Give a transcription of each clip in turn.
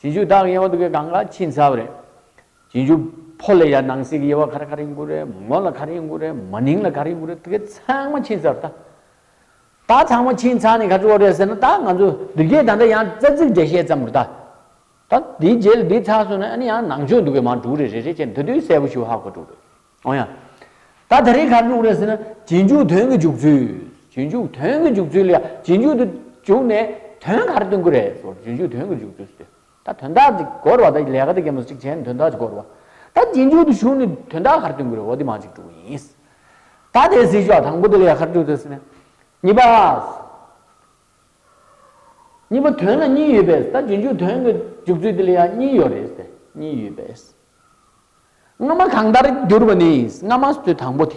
བྱིན་ཆུ་དག་ཡེ་བ་དུ་བའི་གང་ག་ཕྱིན་ཚར་བ་རེད། བྱིན་ཆུ་ཕོ་ལ་ཡར་ནང་གསེས་ཀྱི་ཡེ་བ་གར་གར་ཡིན་དགོས་རེད་མོ་ལ་གར་ཡིན་དགོས་རེད་མ་ནིང་ལ་གར་ཡིན་དགོས་རེད་དེ་ག་ཚང་མ་ཕྱིན་ཚར་ད། ད་ཚང་མ་ཕྱིན་ཚར་ནས་ག་ཚོད་བ་རེད་ཟེར་ན་ད་ང་ཚོ་འདི་རྒྱས་ད་ལྟ་ཡང་རྩ་ཚིག་འགྲེལ་བཤད་ཙམ་རེད་ད། ད་འདིའི་རྗེས་ལ་འདི་ཚར་སོང་ན་ཨ་ནི་ཡང་ནང་ཆོས་འདུག་གས་མང་དྲུག་རེད་རེད་རེད་ཅེས་འདི་དུས་གསལ་པོ་ཞུ་ཧ་གོ་དྲུག་རེད། འོང་ཡ། ད་དེ་རིགས་གར་འཇུག་རེད་ཟེར་ན། རྗེས་འཇུག་དོན་གྱི་འཇུག་ཚུལ། རྗེས་འཇུག་དོན་གྱི་འཇུག་ཚུལ་ལ་རྗེས་འཇུག་ཏུ་འཇུག་ནས་དོན་གར་སྟོན་གི་རེད། རྗེས་འཇུག་དོན་གྱི་འཇུག་ཚུལ་ཟེར་ཏེ། ད་དོན་དག་ཅིག་བསྒོར་བ་ད་ལས་ཀ་དེ་ཀེ་མོ་ཅིག་བྱས་ནས་དོན་དག་ཅིག་བསྒོར་བ། ད་རྗེས་འཇུག་ཏུ་ཞུགས་ནས་དོན་དག་གར་སྟོན་གི་རེད་འོ་དེ་མ་ཅིག་དྲུག་ཡིན། ད་དེ་སྲིད་ཞོག་དང་པོ་དེ་ལས་གར་འཇུག་ཐུབ་ཟེར་ན། གཉིས་པ། གཉིས་པ་དོན་ལ་གཉིས་ཡོད་པས་ད་རྗེས་འཇུག་དོན་གྱི་འཇུག་ཚུལ་དེ་ལ་ཡང་གཉིས་ཡོད་རེད། གཉིས་ཡོད་པས། སྔ་མ་གང་ལྟར་གྱུར་པ་ནི་སྔ་མ་སྟེ་དང་པོ་དེ་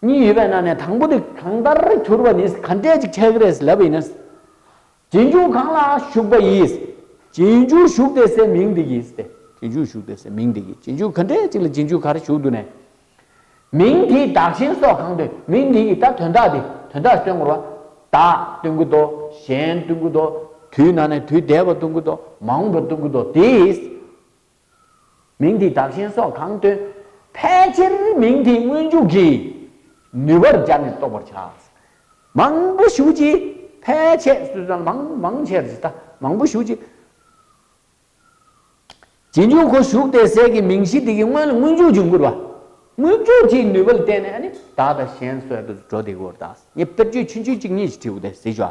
གཉིས་ཡོད་པས་ན་ནས་དང་པོ་དེ་གང་ལྟར་གྱུར་པ་ནི་ག་འདྲས་ཅིག་ཆགས་རེས་ལབ་ཡིན་ན། རྗེས་འཇུག་གང་ལ་ཞུགས་པ་ཡིས། རྗེས་འཇུག་ཞུགས་ཏེ་སའི་མིང་འདི་ཡིས་ཏེ། རྗེས་འཇུག་ཞུགས་ཏེ་སའི་མིང་འདི་ཡིས་རྗེས་འཇུག་ག་འདྲས་ཅིག་ལ་རྗེས་འཇུག་གར་ཞུགས་འདུག་ནས། མིང་འདིའི་བདག་གཞན་སོགས་གང་དོན་མིང་འདི་ཡིས་ད་དོན་དག་འདི་དོན་དག་སྟོན་དགོས་པ། བདག་སྟོན་གྱི་དོ། གཞན་སྟོན་གྱི་དོ། དུས་ན་ནས་དུས་འདས་པ་སྟོན་གྱི་དོ། མ་འོངས་པ་སྟོན་གྱི་དོ་དེས། མིང་དེའི་དག་ཞེན་སོགས་གང་སྟོན། ཕལ་ཆེར་མིང་དེའི་སྔོན་འཇུག་གི་ནུས་པར་སྦྱར་ནས་རྟོགས་པར་བྱ། མང་པོ་ཞུགས་ཀྱིས་ཕལ་ཆེ། མང་ཆེར་ཇི་ལྟ་མང་པོ་ཞུགས་ཀྱིས། ཇི་འཇུག་གོ་ཞུགས་ཏེ་ཟད་ཀྱི་མིང་གཞི་དེ་གའི་སྔོན་ལ་སྔོན་འཇུག་ཅིང་བསྐུར་བ། སྔོན་འཇུག་གི་ནུས་པ་ལ་བརྟེན་ནས་ནི་དག་དང་ཞེན་གསོལ་དུ་འགྲོ་སྟེ་གོ། དངོས་པོ་དཔེར་བརྗོད་ཕྱི་འཇུག་གཅིག་གཉིས་ཀྱི་ཁྲིད་དབུ་སྟེ་གཟིགས་བྱ།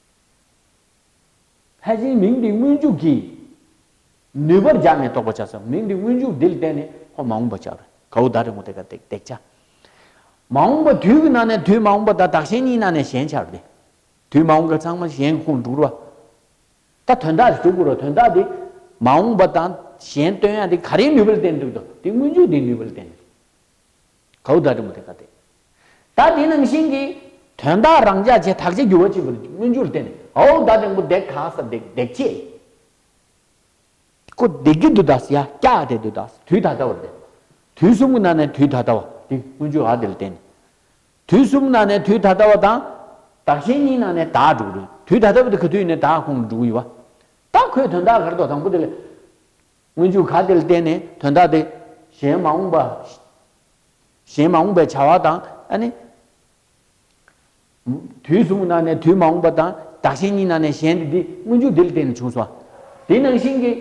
ལྷས་བྱིན་མིང་འདི་སྔོན་འཇུག་གིས། ནུས་པར་སྦྱར་ནས་རྟོགས་པར་བྱ། ས་མིང་འདི་སྔོན་འཇུག་འདིར་བསྟན་ནས་ཧོ། མ་འོངས་པ་བྱ། གའུ་བདག་རི་མོ་དེ་ཀ་བརྡེག་བརྡེག་བྱ། མ་འོངས་པ་དུས་ཀྱི་ནང་ནས་དུས་མ་འོངས་པ་དང་བདག་གཞན་གཉིས་ནང་ནས་གཞན་ཆར་བརྡེག། དུས་མ་འོངས་པ་ཚང་མ་གཞན་གྱི་ཁུངས་དྲུག་རོ། ད་དོན་དག་གིས་དྲུག་གོ་རོ་དོན་དག་འདི། མ་འོངས་པ་དང་གཞན་སྟོན་ཡང་དེ་ག་རེའི་ནུས་པ་ལ་བརྟེན་དྲུག་དོ། དེ་སྔོན་འཇུག་འདིའི་ནུས་པ་ལ་བརྟེན་ནས། གའུ་སྒྲ་དྲི་མ་ཐད་ཀར་བསྟན། ད་དེ་ནང་བཞིན་གྱི། དོན་དག་རང་འཇགས་བྱས་དག་བྱས་འགྱུར་བ་གཅིག་པུར་མངོན་རྒྱུར་བསྟན། གའུ་སྒྲ་དྲིང་པོ་བརྡེག་ག་ས་བརྡེག་བརྡེག་ཅེས། ཀོ་བརྡེག་གི་འདུ་དག་སི་ཡ་སྐྱ་ཨ་དེ་འདུ་དག་སི་དུས་ད་ལྟ་བར་བསྟན། དུས་གསུམ་གྱི་ནང་ནས་དུས་ད་ལྟ་བ་དེ་མངོན་རྒྱུ་ཨ་དེ་ལ་བསྟན། དུས་གསུམ་གྱི་ནང་ནས་དུས་ད་ལྟ་བ་དང། དག་བྱས་གཉིས་ནང་ནས་དག་འགྲོ་གི་རེད། དུས་ད་ལྟ་བ་དེ་ག་དུས་ཡིན་ནའི་དག་ཁོང་དུ་འགྲོ་གི་ཡོད། ད་ཁོས་དོན་དག་གར་དོགས་དང་པོ་དེ་ལས། སྔོན་འཇུག་ག་དེ་ལ་བརྟེན་ནས་དོན་དག་དེ། གཞན་མ་འོངས་པ། གཞན་མ་འོངས་པའི་བྱ་བ་དང། ཨ་ནི། དུས་གསུམ་གྱི་ནང་ནས་དུས་མ་འོངས་པ་དང་བདག་གཞན་གཉིས་ནང་ནས་གཞན་དེ་དེ་སྔོན་འཇུག་དེ་ལ་བརྟེན་ནས་བྱུང་སོ། དེ་ནང་བཞིན་གྱི།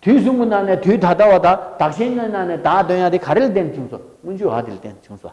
དུས་གསུམ་གྱི་ནང་ནས་དུས་ད་ལྟ་བ་དང་བདག་གཞན་གཉིས་ནང་ནས་བདག་དོན་ཡང་དེ་ག་རེ་ལ་བརྟེན་ནས་བྱུང་སོ། སྔོན་འཇུག་ག་དེ་ལ་བརྟེན་ནས་བྱུང་སོ།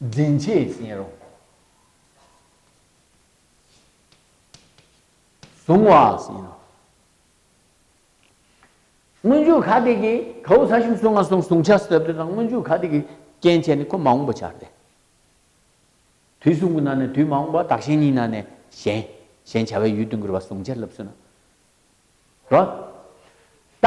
འཛིན་བྱེད་བཞིན་རོ། གཟུང་བ་བཞིན་ནོ། སྔོན་འཇུག་ག་དེ་ཀའི་ཁའུ་ཚ་ཤིང་བསྲུང་བ་སོགས་བསྲུང་བྱ་ཟབ་དོན་དང་སྔོན་འཇུག་ག་དེ་ཀའི་རྐྱེན་བྱས་ནས་ཁོ་མ་འོངས་པ་འཆར་ཏེ། དུས་གསུམ་གྱི་ནང་ནས་དུས་མ་འོངས་པ་དག་གཞན་ཉིད་ན་ནས་གཞན། གཞན་བྱ་བའི་ཡུལ་དུ་འགྱུར་བ་བསྲུང་བྱ་རླབས་སུ་ན། རོ། ད།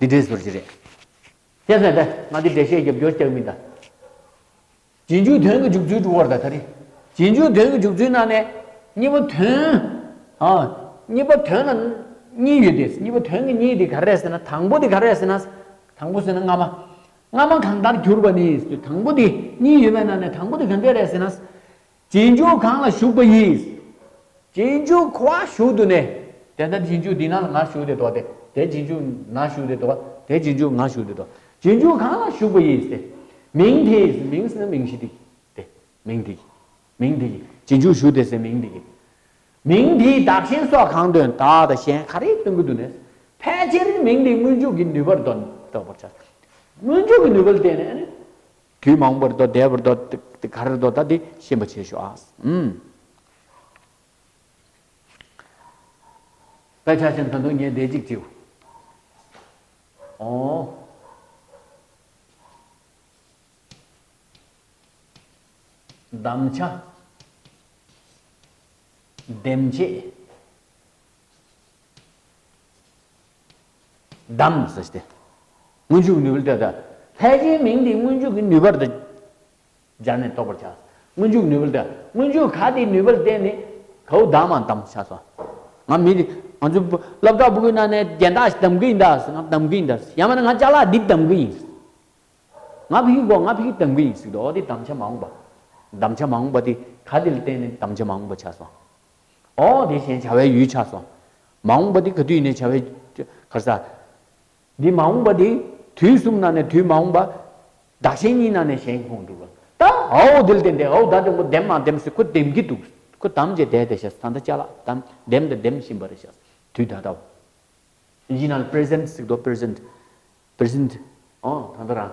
འདི་འདྲའི་ཟུར་གྱི་རེད། ཅེས་ཟེར་ཏེ་ང་འདི་འདྲའི་བཤད་རྒྱབ་སྐྱོར་རྐྱང་མིན་ད། རྗེས་འཇུག་དོན་གྱི་འཇུག་ཚུལ་དྲུག་བར་དག་ད་རེད། རྗེས་འཇུག་དོན་གྱི་འཇུག་ཚུལ་ནང་ནས། གཉིས་པ་དོན། གཉིས་པ་དོན་ལ། གཉིས་ཡོད་དེ། གཉིས་པ་དོན་གྱི་གཉིས་དེ་ག་རེ་རེད་ཟེར་ན་དང་པོ་དེ་ག་རེ་རེད་ཟེར་ན། དང་པོ་ཟེར་ན་སྔ་མ། སྔ་མ་གང་ལྟར་གྱུར་པ་ནི་དང་པོ་དེ་གཉིས་ཡོད་པའི་ནང་ནས་དང་པོ་དེ་ག་འདྲས་རེད་ཟེར་ན། རྗེས་འཇུག་གང་ལ་ཞུགས་པ་ཡིས། རྗེས་འཇུག་ཁོ་བ་ཞུགས་དུ་ནས། དེ་ལྟར་རྗེས་འཇུག་འདི་ན་ལ་ངར་ཞུགས་ཏེ་དོ། དེ་རྗེས་འཇུག་ན་ཞུགས་ཏེ་དོ། དེ་རྗེས་འཇུག་ངར་ཞུགས་ཏེ་དོ། རྗེས་འཇུག་གང་ལ་ཞུགས་པ་ཡིས་ཏེ། མིང་དེ་ཡིས་མིང་ཟིན་ན་མིང་གཞི་དེ་ཀྱིས་ཏེ། མིང་དེ་ཀྱིས། མིང་དེ་ཀྱིས་རྗེས་འཇུག་ཞུགས་ཏེ་ཟེར་མིང་དེ་ཀྱིས། མིང་དེའི་བདག་གཞན་སོགས་གང་དོན་དག་དང་གཞན་ག་རེ་སྟོན་གྱི་འདུག་ནས། ཕལ་ཆེར་མིང་དེའི་སྔོན་འཇུག་གི་ནུས་པར་འདོད་པར་བྱ། སྔོན་འཇུག་གི་ནུས་པ་ལ་བརྟེན་ནས། དུས་མང་པོར་དོ་བདེ་བར་དོ། དེ་གར་དོ་ད་དེ་ཤེས་པ་བྱེད་ཤོག། དཔེ་ཆ་བཞིན་དུ་འདུག་ཉེ་དེ་གཅིག་ཅིག། ཨོ། གདམ་བྱ། འདེམས་བྱེད། བདམས་སོ་སྟེ། སྔོན་འཇུག་ནུས་པ་ལྟོས་དང། ལྷའི་རྗེས་མིང་དེའི་སྔོན་འཇུག་གི་ནུས་པར་དུ་སྦྱར་ནས་རྟོགས་པར་བྱ། སྔོན་འཇུག་ནུས་པ་ལྟོས། སྔོན་འཇུག་ག་དེའི་ནུས་པར་བརྟེན་ནས་གའུ་བདམས་བ་དམ་བྱས་སོ། ང་མི་དེ། ང་ཚོ་སློབ་གྲྭ་པོ་ཀུན་ན་ནས་རྒྱན་དག་ཞིག་བདམས་གི་ཡིན་ད། ང་བདམས་གི་ཡིན་ད། ཡང་མིན་ན་ང་ལྕགས་ལ་འདི་བདམས་གི་ཡིན། ང་ཕི་ཁི་གོ་ང་ཕི་ཁི་བདམས་གི་ཡིན་ཟིག་དོ་འོ་དེ་བདམས་བྱ་མ་འོངས་པ། བདམས་བྱ་མ་འོངས་པ་དེ་ག་དེ་ལ་བརྟེན་ནས་བདམས་བྱ་མ་འོངས་པ་བྱས་སོ། ཨོ། དེ་བཞིན་བྱ་བའི་ཡུལ་ཆགས་སོ། མ་འོངས་པ་འདི་ག་དུས་ནས་བྱ་བའི། གར་ས། འདི་མ་འོངས་པ་འདི། དུས་གསུམ་ན་ནས་དུས་མ་འོངས་པ། བདག་གཞན་གཉིས་ན་ནས་གཞན་ཁོང་འགྲུབ། ད་ཨོ། དེ་ལ་བརྟེན་ཏེ་ཨོ་བདག་འདྲེན་པོ་ལྡེམ་མ་ལྡེམ་སྲིད་ཁོ་ལྡེམ་གྱི་འདུག། ཁོ་ལྡམ་བྱས་བསྡད་དེ་ཤཱས་ད་ལྟ་བྱ་ལ་ལྡམ། ལྡེམ་དང་ལྡེམ་བཞིན་པ་རེད་ཤཱས། དུས་ད་ལྟ། ཡིན་ན་ལ present སྲིད་དོ present། present། ཨོ་ད་ལྟ་རང།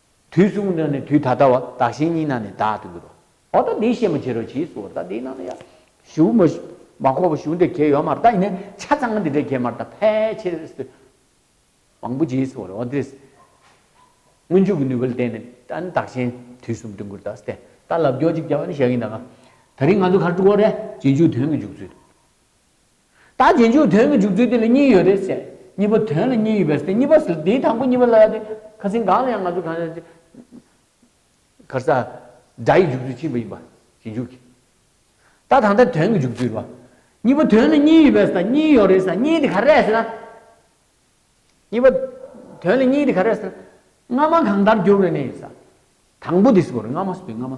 དུས་གསུམ་ན་ནི་དུས་ད་ལྟ་བ། བདག་གཞན་གཉིས་ན་ནི་བདག་ཏུ་འགྱུར་རོ། འོ་ད་འདིའི་བཤད་མ་བྱེད་རོ་གྱིས་སུ་འོ་ད་འདིའི་ནང་ན་ཡང། གཞུག། མ་ཁོག་པ་གཞུག་འདི་གས་ཡོད་མར་ད་ཡིན་ནས་ཆ་ཚང་ང་འདི་འདྲས་གས་མར་ད་ཕལ་ཆེར་ཨེ་སྲིད། མང་པོ་གྱིས་སུ་འོ་འདི། སྔོན་འཇུག་གི་ནུས་པ་ལ་བརྟེན་ནས་ད་ནི་བདག་གཞན་དུས་གསུམ་དུ་འགྱུར་ད་སྟེ། ད་ལབ་སྐྱོར་ཅིག་བྱ་བ་ནི་བྱ་གིན་ད་ང། ད་རིང་ང་ཚོ་གར་འགྲོ་འོ་རེད། རྗེས་འཇུག་དོན་གྱི་འཇུག་ཚུལ། ད་རྗེས་འཇུག་དོན་གྱི་འཇུག་ཚུལ་དེ་ལ་གཉིས་ཡོད་རེད་ཟེར། གཉིས་པ་དོན་ལ་གཉིས་ཡོད་པས་དེ་གཉིས་པ་ཟེར་དེའི་དང་པོ་གཉིས་པ་ལ་དེ་ཁ་ཟིན་གང་ལ་ཡང་ང་ཚོས་གང་ཟེར། གར་ས། སྒྲ་ཡི་འཇུག་ཚུལ་ཕྱིན་པ་ཡིན་པ་ཞེས་འཇུག་གི། ད་ད་ལྟ་དོན་གྱི་འཇུག་ཚུལ་བ། གཉིས་པ་དོན་ལ་གཉིས་ཡོད་པས་ཟེར་གཉིས་ཡོད་རེད་ཟེར་གཉིས་དེ་ག་རེད་ཟེར་ན། གཉིས་པ། དོན་ལ་གཉིས་དེ་ག་རེད་ཟེར་ན། སྔ་མ་གང་ལྟར་འགྱུར་བ་རེད་ནི་ཟེར། དང་པོ་དེ་སུ་རེད་སྔ་མ་སུ་རེད་སྔ་མ།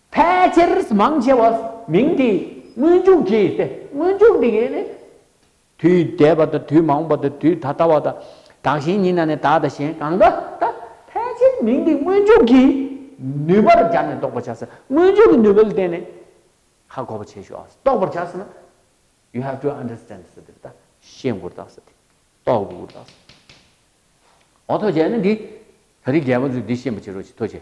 ཕལ་ཆེར་མང་ཆེ་བ་མིང་དེའི་སྔོན་འཇུག་གིས་ཏེ་སྔོན་འཇུག་འདི་གའི་ནི། དུས་འདས་པ་དང་དུས་མང་པོ་དང་དུས་ད་ལྟ་བ་དང་དག་གཞན་ཉིད་ན་ནི་དག་དང་གཞན་གང་དག་ད་ཕལ་ཆེར་མིང་དེའི་སྔོན་འཇུག་གིས་ནུས་པར་སྦྱར་ནས་རྟོགས་པར་བྱ། སྔོན་འཇུག་གི་ནུས་པ་ལ་བརྟེན་ནས་ཧ་གོ་བར་བྱེད་ཞོ། རྟོགས་པར་བྱ་ཟེར་ན། you have to understand ཟེར་ཏེ། ཤེས་དགོས་རྟགས་ཟེར་ཏེ། རྟོགས་དགོས་རྟགས་ཟེར་ཏེ། འོ་ཐོ་བྱས་ནི་འདི། ད་རིག་རྒྱལ་པོ་ཚོས་འདི་ཤེས་པར་བྱེད་རོགས་ཞེས་ཐོ་བྱས།